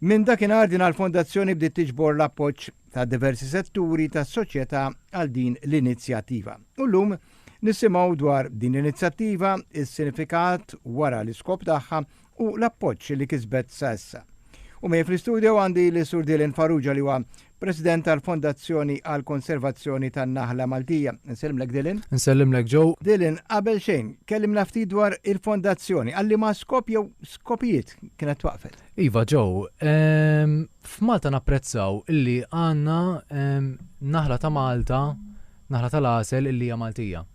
Minn dakinhar din l-fondazzjoni bdiet tiġbor l-appoġġ ta' diversi setturi tas-soċjetà għal din l-inizjattiva. U llum nisimgħu dwar din l-inizjattiva, is-sinifikat wara l-iskop tagħha u l-appoġġ li kisbet sa issa. U miegħi fl-istudio għandi lis-Sur Dylan Farrugia li huwa President tal-Fondazzjoni għall-Konservazzjoni tan-Naħla Maltija. Nsellimlek Dylan. Nsellimlek Joe. Dylan, qabel xejn, kellimna ftit dwar il-Fondazzjoni. Għalli ma skop jew skopijiet kienet twaqfet? Iva Joe, ehm, f'Malta napprezzaw illi għandna ehm, naħla ta' Malta, naħla tal-għasel illi hija Maltija.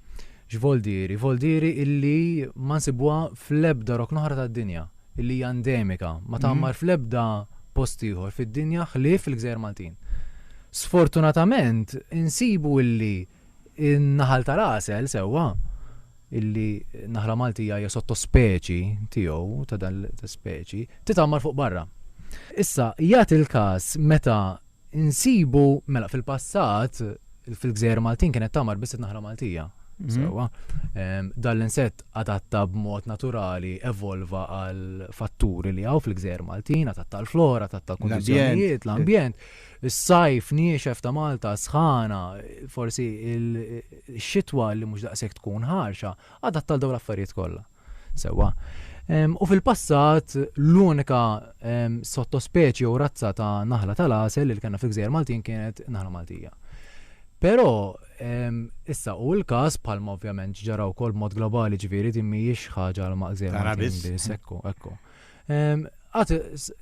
X'voldieri? Voldieri illi ma nsibwa fl-ebda roknoħra tad-dinja. li hija endemika, ma tgħammar fl-ebda post ieħor fid-dinja ħlief fil-Gżejjer Maltin. Sfortunatament insibu illi n-naħal tal-għasel sewwa, illi naħla Maltija hija sottospeċi tiegħu ta' dan l-ispeċi, titgħammar fuq barra. Issa, jagħti l-każ meta Insibu, mela fil-passat, fil-gżejjer Maltin kienet tagħmar biss it-naħla Maltija. Mhm. Sewwa. Ehm, Dan l-insett adatta b'mod naturali evolva għal fatturi li hawn fil-gżejjer Maltin, adatta l-flora, adatta l-kundizzjonijiet, l-ambjent, is-sajf niexef ta' Malta, sħana, forsi il-xitwa li mhux daqshekk tkun ħarxa, adatta għal dawn l-affarijiet kollha. Sewwa. U fil-passat, l-unika sottospeċi jew razza ta' naħla tal-għasel li kellna fil-Gżejjer Maltin kienet naħla Maltija. Però issa hu l-każ bħalma ovvjament ġara wkoll b'mod globali ġifieri din mhijiex ħaġa għal Gżejjer Maltin biss. Ekku, ekku. Għad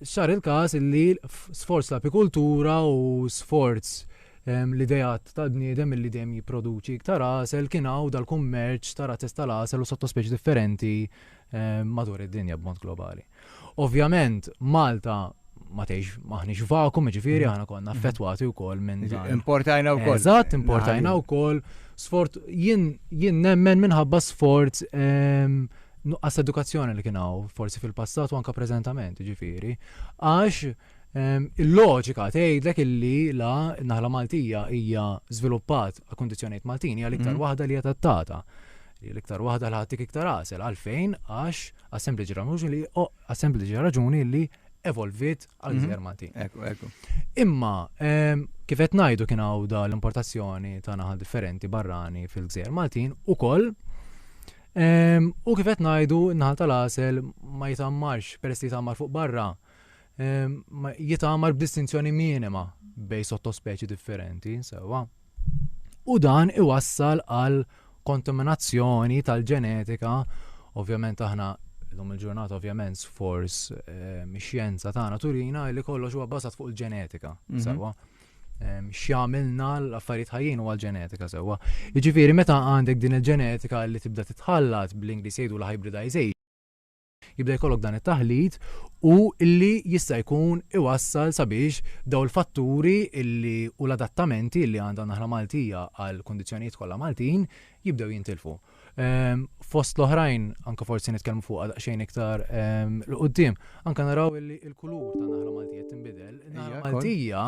sar il-każ li sforz l-apikultura u sforz l-ideat tal-bniedem milli dejjem jipproduċi iktar għasel kien hawn dal-kummerċ ta' razzez tal-għasel u sottospeċi differenti madur id-dinja b'mod globali. Ovvjament, Malta ma tgħix maħniex vakum, ġifieri mm. aħna konna mm. affettwati wkoll minn dan. Importajna wkoll. Eżatt, importajna wkoll. Sfort jien jien nemmen minħabba sforz nuqqas edukazzjoni li kien hawn forsi fil-passat u anke preżentament, ġifieri. Għax Il-loġika tgħidlek illi la naħla Maltija hija żviluppat għal kundizzjonijiet Maltin hija l-iktar mm. waħda li hija tattata. L-iktar waħda li ħadtik iktar għasel għalfejn għax għas-sempliċi raġuni li għas-sempliċi raġuni li evolvit għal mhm. gżer Maltin. Ekku, ekku. Imma kif qed ngħidu kien hawn da l-importazzjoni ta' naħal differenti barrani fil-gżer Maltin ukoll U kif qed ngħidu n-naħal tal-għasel ma jitammarx peress li jitammar fuq barra jitgħamar b'distinzjoni minima bejn sottospeċi differenti, sewa. U dan iwassal għal kontaminazzjoni tal-ġenetika, ovvjament aħna l-lum il-ġurnata ovvjament sforz ehm, xjenza tagħna turina li kollox huwa basat fuq il-ġenetika, mhm. sewa. Ehm, x'jagħmilna l-affarijiet ħajjin huwa l-ġenetika sewa. Jiġifieri meta għandek din il-ġenetika li tibda titħallat bl-Ingliż jgħidu l-hybridization, jibda jkollok dan it-taħlit u li jista' jkun iwassal sabiex dawn il-fatturi li u l-adattamenti li għandha n-naħla Maltija għall-kundizzjonijiet kollha Maltin jibdew jintilfu. Ehm, fost l-oħrajn, anke forsi nitkellmu fuqha daqsxejn iktar ehm, l-qudiem, anke naraw li l-kulur ta' naħla Maltija tinbidel. Naħla Maltija,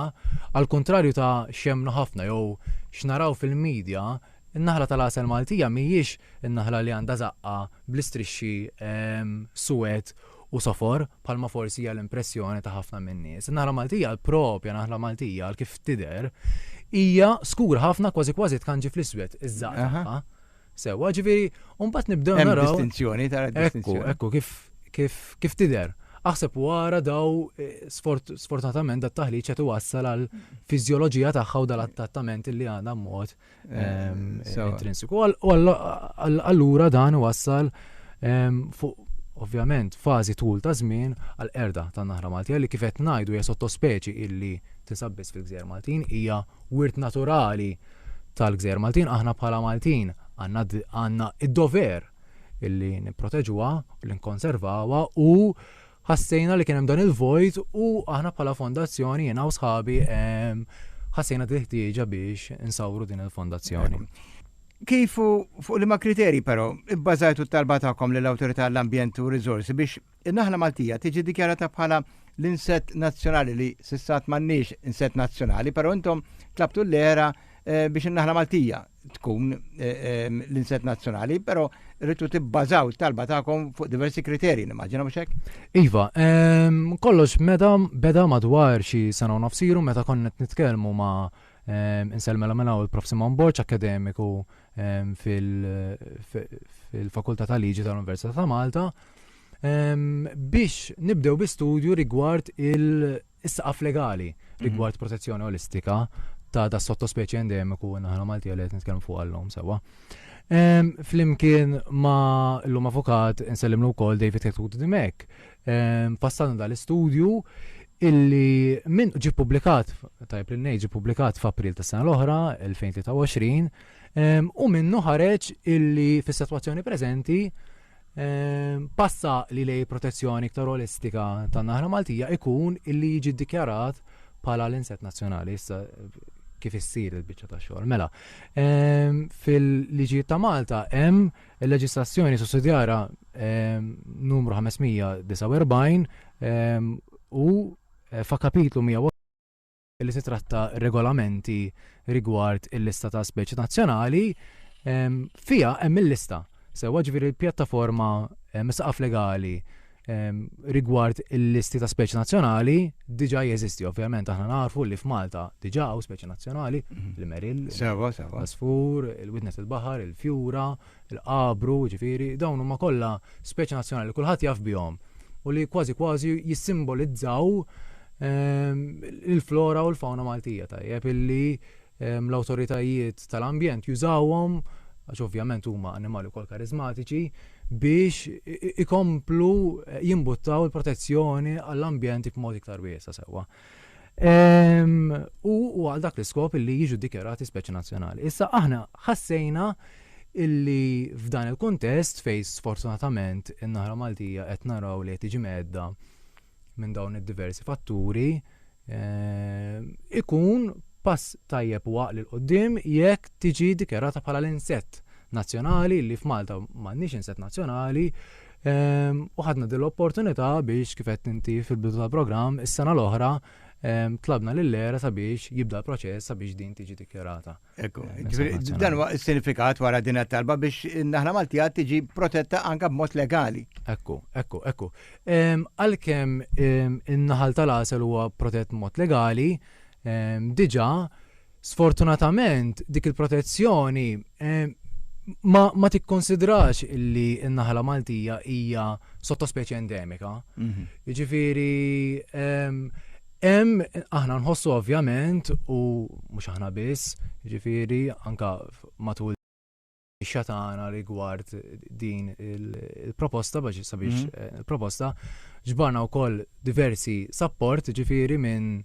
għal kontrarju ta' xemnu ħafna jew x'naraw fil-medja, In-naħla tal-għasel Maltija mhijiex in-naħla li għandha żaqqha bl-istrixxi suwed u sofor bħalma forsi hija l-impressjoni ta' ħafna min-nies. In-naħla Maltija, l-propja naħla Maltija għal kif tidher, hija skura ħafna kważi kważi tkanġi fl-iswed iż-żaqqa tagħha. Sewwa, ġifieri, u mbagħad nibdew naraw. Hemm distinzjoni tara distinzjoni. Ekku, ekku, kif kif kif tidher. Aħseb wara daw eh, sfortunatament dat taħliġ qed iwassal għal fiżjoloġija tagħha u dal-attattament li għandha mod intrinsiku. Allura dan wassal fuq ovvjament fażi tul ta' żmien għal erda tan naħra Maltija li kif qed ngħidu hija sottospeċi illi tinsab biss fil-Gżejjer Maltin hija wirt naturali tal-Gżejjer Maltin aħna bħala Maltin għandna id-dover illi nipproteġuha, li nkonservawha u Ħassejna li kien hemm dan il-vojt u aħna bħala fondazzjoni jiena u sħabi ħassejna din ħtieġa biex insawru din il-fondazzjoni. Kif u fuq liema kriterji però ibbażajtu t-talba tagħkom lill-Awtorità għall-Ambjent u r-Riżorsi biex in-naħla Maltija tiġi ddikjarata bħala l-insett nazzjonali li s'issa għad m'għandniex insett nazzjonali però intom tlabtu l-ERA biex in-naħla Maltija tkun l-inset nazzjonali, però rritu tibbażaw talba tagħkom fuq diversi kriterji, nimmaġina mhux hekk? Iva, kollox meta beda madwar xi sena u nofsiru meta konna qed nitkellmu ma' inselmela minn hawn il-Prof Simon Borċ akademiku fil-Fakultà ta' Liġi tal-Università ta' Malta biex nibdew bi studju rigward il- Is-saqaf legali rigward protezzjoni olistika ta' da sottospeċi endemiku naħna Malti għal qed nitkellmu fuq għallhom sewwa. Flimkien ma l-lum avukat insellimlu wkoll David Ketut Dimek. Fassalna dal-istudju illi minn ġi publikat, tajb li ngħid ġi publikat f'April tas-sena l-oħra, 2023, u minnu ħareġ illi fis-sitwazzjoni preżenti Pass għaqli lejn protezzjoni iktar olistika tan-naħla Maltija ikun illi jiġi ddikjarat bħala l-inset nazzjonali issa kif issir il-biċċa ta' xogħol. Mela, ehm, fil-liġijiet ta' Malta hemm il-leġislazzjoni sussidjara ehm, numru 549 ehm, u eh, fa' kapitlu 100 li titratta regolamenti rigward il-lista ta' speċi nazzjonali, fija hemm il-lista. Sewa ġviri l-pjattaforma misaqaf legali rigward il-listi ta' speċi nazzjonali diġa jeżisti. Ovvjament aħna nafu li f'Malta diġa u speċi nazzjonali, mhm. l-meril, l-asfur, il-widnet il-bahar, il-fjura, il-Qabru, jiġifieri, dawn huma kollha speċi nazzjonali li kulħadd jaf bihom u li kważi kważi jissimbolizzaw ehm, il-flora u l-fawna Maltija tajjeb illi ehm, l-awtoritajiet tal-ambjent jużawhom għax ovvjament huma annimali wkoll karizmatiċi biex ikomplu eh, jimbuttaw il-protezzjoni għall-ambjent b'mod iktar wiesa sewwa. u għal dak l-iskop li jiġu dikjarati speċi nazzjonali. Issa aħna ħassejna illi f'dan il-kontest fej sfortunatament in-naħra Maltija qed naraw li qed tiġi medda minn dawn id-diversi fatturi eh, ikun pass tajjeb waq li l-qoddim jekk tiġi dikjarata bħala l-insett nazzjonali li f'Malta m'għandniex insett nazzjonali Ehm, u ħadna din l-opportunità biex kif qed inti fil-bidu tal-programm is-sena l-oħra ehm, tlabna lill-era sabiex jibda l-proċess sabiex din tiġi dikjarata. Ekku, eh, dan huwa s-sinifikat wara din talba biex naħna Maltija tiġi protetta anka b'mod legali. Ekku, ekku, ekku. Ehm, għalkemm in-naħal tal-għasel huwa protett mod legali, diġà Sfortunatament, dik il-protezzjoni ma, ma tikkonsidrax illi n-naħla Maltija hija sottospeċi endemika. Mhm. Jiġifieri hemm aħna nħossu ovvjament u mhux aħna biss, jiġifieri anka matul il-firxa tagħna rigward din il-proposta biex sabiex mhm. eh, il-proposta ġbarna wkoll diversi support ġifieri minn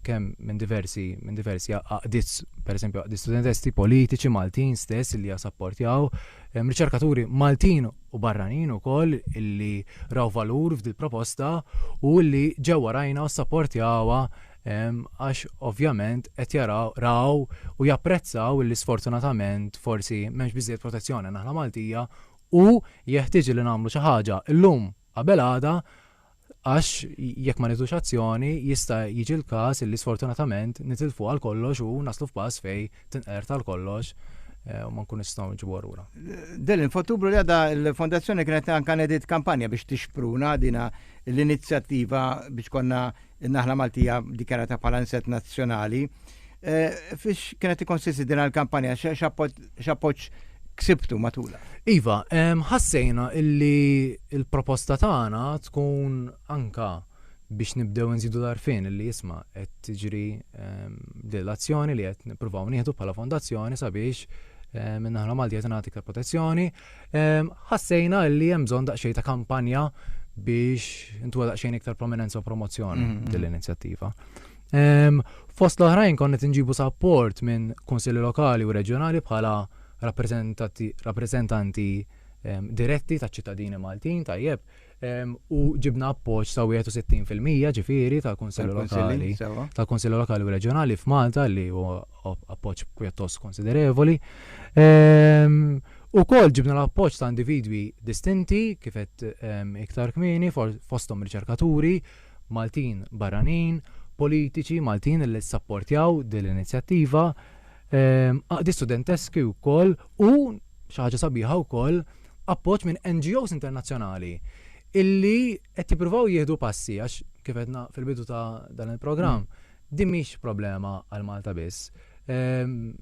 kemm minn diversi minn diversi għaqdiet pereżempju għaqdiet studentesti politiċi Maltin stess li jasapportjaw riċerkaturi Maltin u barranin ukoll illi raw valur f'dil proposta u li ġewwa rajna u sapportjawha għax ovvjament qed jaraw raw u japprezzaw illi sfortunatament forsi m'hemmx biżżejjed protezzjoni għan-naħla Maltija u jeħtieġ illi nagħmlu xi ħaġa llum qabel għada għax jekk ma nieħdux azzjoni jista' jiġi l-każ illi sfortunatament nitilfu għal kollox u naslu f'pass fejn tinqered għal kollox eh, u ma nkun nistgħu nġibu lura. Delin, f'Ottubru li għadha l-Fondazzjoni kienet anka nedit kampanja biex tixpruna dina l-inizjattiva biex konna In-naħla Maltija dikjarata bħala inset nazzjonali. Fiex kienet tikkonsisti din l-kampanja x'appoġġ ksibtu matula? Iva, ħassejna illi il-proposta tagħna tkun anka biex nibdew nżidu l-arfin illi jisma qed tiġri din l-azzjoni li qed nippruvaw nieħdu bħala fondazzjoni sabiex minnaħla Malti qed nagħti protezzjoni Ħassejna li hemm bżonn daqsxejn ta' kampanja biex intuha daqsxejn iktar prominenza u promozzjoni mm-hmm. din l-inizjattiva. Fost l-oħrajn konna tinġibu sapport minn kunsilli lokali u reġjonali bħala rappreżentanti diretti ta' ċittadini Maltin tajjeb u ġibna appoġġ ta' 61 fil-mija ġifieri tal-Kunsilli Lokali tal-Kunsilli Lokali u Reġjonali f'Malta li huwa appoġġ pjuttost konsiderevoli. U kol ġibna l-appoġġ ta' individwi distinti kif qed iktar kmieni fosthom riċerkaturi, Maltin barranin, politiċi Maltin li sapportjaw din l-inizjattiva, għaqdi studenteski wkoll u xi ħaġa sabiħa wkoll appoġġ minn NGOs internazzjonali illi qed jippruvaw jieħdu passi għax kif għedna fil-bidu ta' dan il-programm mm. din mhix problema għal Malta biss. Ehm,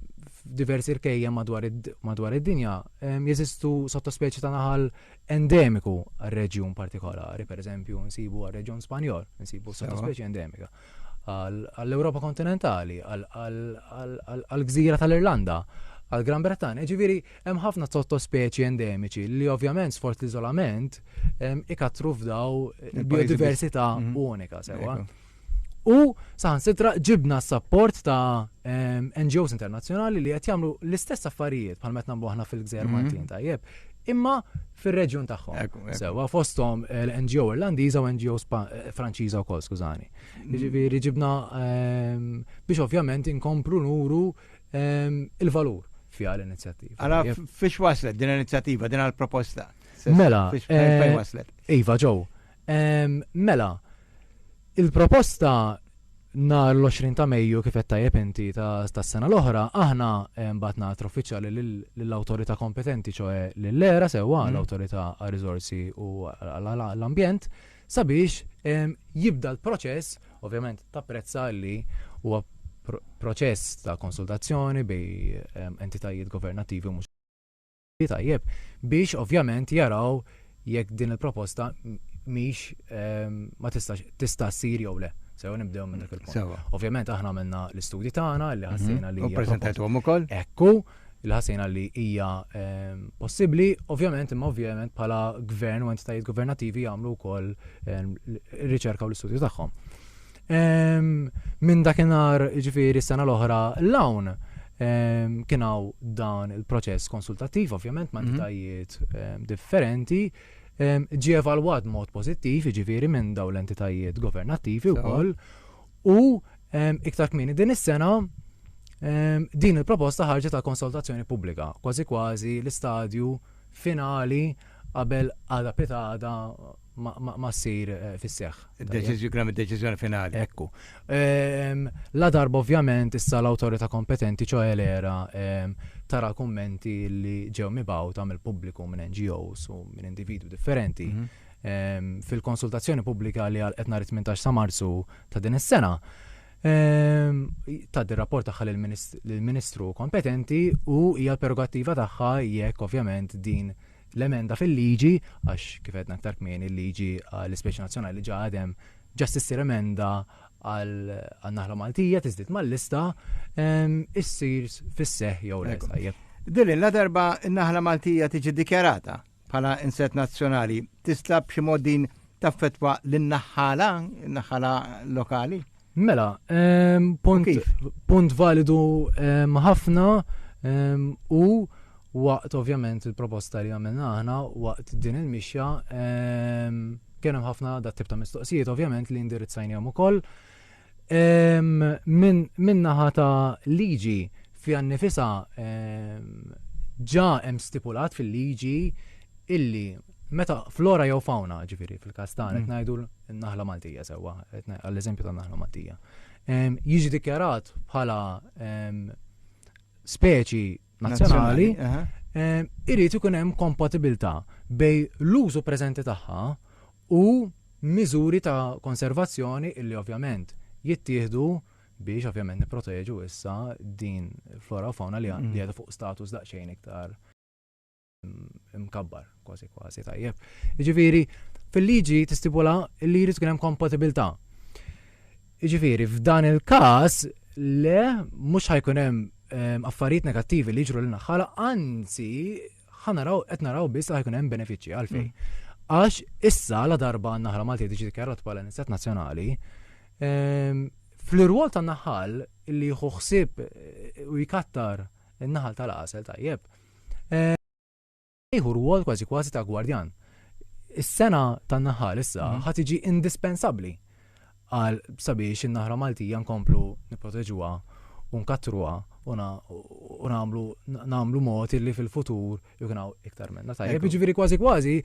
diversi rkejja madwar id-dinja ehm, jeżistu sottospeċi ta' naħal endemiku għal-reġjun partikolari, per eżempju, nsibu għal-reġjun Spanjol, nsibu sottospeċi endemika. għall-Ewropa kontinentali, għall-gżira tal-Irlanda, għall-Gran Bretanja. Ġifieri hemm ħafna sottospeċi endemiċi li ovvjament sfort l-iżolament ikattru f'daw biodiversità mhm. unika sewa. U saħan sitra ġibna s-sapport ta' NGOs internazzjonali li qed jagħmlu l-istess affarijiet bħal meta nagħmlu aħna fil-Gżer mhm. Maltin tajjeb. Imma fir-reġjun tagħhom. Sewa fosthom eh, l-NGO Irlandiża u NGO eh, Franċiża wkoll, skużani. Mm. Jiġifieri ġibna ehm, biex ovvjament inkomplu nuru ehm, il-valur fiha l-inizjattiva. Għala fiex waslet din l-inizjattiva, din għal-proposta? Mela, fejn eh, waslet? Iva, ġew. Ehm, mela, il-proposta nhar l-20 ta' Mejju kif qed tajjeb inti tas-sena l-oħra, aħna eh, mbagħad nagħtru uffiċjali lill-awtorità kompetenti ċoe lill-era sewwa mm. l-awtorità għar-riżorsi u l-ambjent sabiex ehm, jibda l-proċess, ovvjament ta' prezza li huwa proċess ta' konsultazzjoni bej ehm, entitajiet governattivi mhux tajjeb biex ovvjament jaraw jekk din il-proposta mhix ehm, ma tistax tista' ssir jew le. Sew nibdew minn dak il-punt. Sewa. Ovvjament aħna għamilna l-istudji tagħna li ħassejna li Mhm. U hija proposta- preżentatuhom ukoll? Ekku, li ħassejna li hija ehm, possibbli, ovvjament imma ovvjament bħala gvern u entitajiet governattivi jagħmlu wkoll ehm, l- riċerka u l-istudju tagħhom. Minn dakinhar ġifieri s-sena l-oħra l-hawn kien hawn dan il-proċess konsultattiv ovvjament ma' mhm. entitajiet differenti ġie evalwat mod pożittiv ġifieri minn dawn l-entitajiet governattivi wkoll u iktar kmini din is-sena Ehm, din il-proposta ħarġet ta' konsultazzjoni pubblika, kważi kważi l-istadju finali qabel għada pitada ma ssir fis-seħħ. Kien hemm id-deċiżjoni finali. Ekku. Ladarba ovvjament issa l-awtorità kompetenti ċoħe l-ERA tara l-kummenti li ġew mibgħuta mill-pubbliku minn NGOs u minn individwi differenti fil-konsultazzjoni pubblika li għalqet nhar 18 ta' Marzu ta' din is-sena. Ehm, tad rapport tagħha lill-Ministru kompetenti u hija l-prerogattiva tagħha jekk ovvjament din l-emenda fil-liġi, għax kif għedna aktar kmini il-liġi għall-ispeċi nazzjonali ġa għadem ġast issir emenda għal naħla Maltija tiżdied mal-lista issir fis-seħ jew l Dilin la darba n-naħla Maltija tiġi dikjarata bħala inset nazzjonali tista' b'xi mod din taffetwa lin-naħħala, naħħala lokali? Mela, ehm, punt, punt validu ehm, ħafna ehm, u waqt ovvjament il-proposta li għamilna aħna waqt din il-mixja ehm, kien hemm ħafna dat tip ta' mistoqsijiet ovvjament li indirizzajnihom ukoll. Ehm, min, min naħa ta' liġi fi għannifisa ehm, ġa hemm stipulat fil-liġi illi Meta flora jew fauna, ġifiri, fil-kas tagħna qed mm. ngħidu n-naħla Maltija sewwa, għall-eżempju tan-naħla Maltija. Jiġi dikjarat bħala speċi nazzjonali, irid ikun hemm kompatibilità bej l-użu preżenti tagħha u miżuri ta' konservazzjoni illi ovvjament jittieħdu biex ovvjament niproteġu issa din flora u fauna li għadu mm. fuq status daqsxejn iktar mkabbar, kważi kważi tajjeb. Ġifiri, fil-liġi tistipula li jrid hemm kompatibilità. Ġifiri, f'dan il-każ le mhux ħajkun hemm ehm, affarijiet negattivi li jiġru l naħħala anzi ħanaraw qed naraw biss li ħajkun hemm benefiċċji għalfejn. Mm. Għax issa la darba naħra Malti diġi dikjarat bħala nistat nazzjonali, ehm, fl-irwol tan-naħal li jħuħsib eh, u jkattar in-naħal tal-għasel tajjeb Ħajħu rwol kważi kważi ta' gwardjan. Is-sena tan-naħal issa mhm. ħa tiġi indispensabbli għal sabiex in-naħra Maltija nkomplu nipproteġuha u nkattruha u nagħmlu nagħmlu mod illi fil-futur jkun hawn iktar minna. Tajjeb, jiġifieri kważi kważi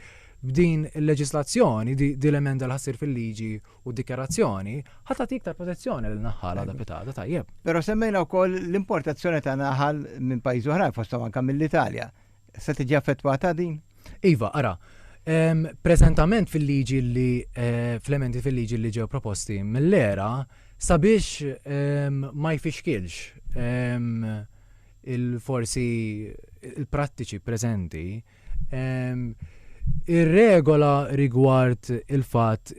b'din il-leġislazzjoni, din l-emenda l-ħassir fil-liġi U d-dikjarazzjoni ħa tagħti iktar protezzjoni lil naħħal għadha pitada, tajjeb. Però semmejna wkoll l-importazzjoni ta' naħal minn pajjiżi oħrajn fosthom anke mill-Italja. Se tiġi affettwata din? Iva, ara, preżentament fil-liġi li eh, fl-emendi fil-liġi li ġew proposti mill-era sabiex ma jfixkilx il-forsi il-prattiċi preżenti Ir-regola rigward il-fatt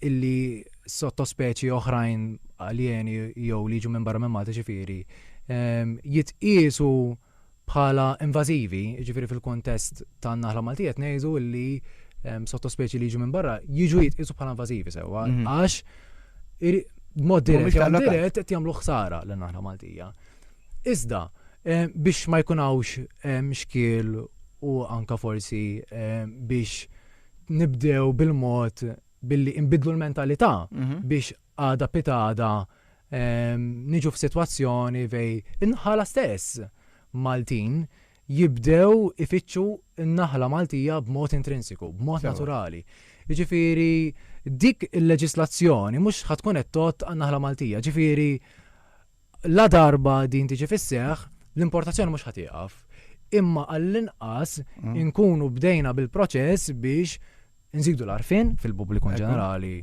illi sottospeċi oħrajn aljeni jew li jiġu minn barra minn Malta ġifieri jitqiesu bħala invażivi, ġifieri fil-kontest tan-naħla Maltija tnejżu li sottospeċi li jiġu minn barra jiġu jitqiesu bħala invażivi sewwa mhm. għax mod dirett jew dirett qed jagħmlu ħsara lin-naħla Maltija. Iżda, biex ma jkun hawnx xkiel u anke forsi biex nibdew bil-mod billi inbiddlu l-mentalità biex għada pitgħada niġu f'sitwazzjoni fej in-naħala stess Maltin jibdew ifittxu n-naħla Maltija b'mod intrinsiku, b'mod naturali. Jiġifieri dik il-leġislazzjoni mhux ħa tkun qed tgħodd għan-naħla Maltija. Jiġifieri, Ladarba din tiġi fis-seħħ, l-importazzjoni mhux ħa tieqaf, imma għall-inqas inkunu bdejna bil-proċess biex inżidu l-għarfien fil-pubbliku in ġenerali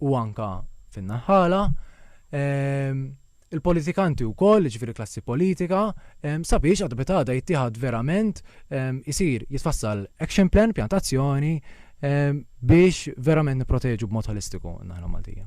u anke fin-naħħala, il-politikanti wkoll, jiġifieri klassi politika, sabiex għad meta għada jittieħad verament isir jitfassal action plan, pjantazzjoni biex verament nipproteġu b'mod ħolistiku n-naħla Maltija.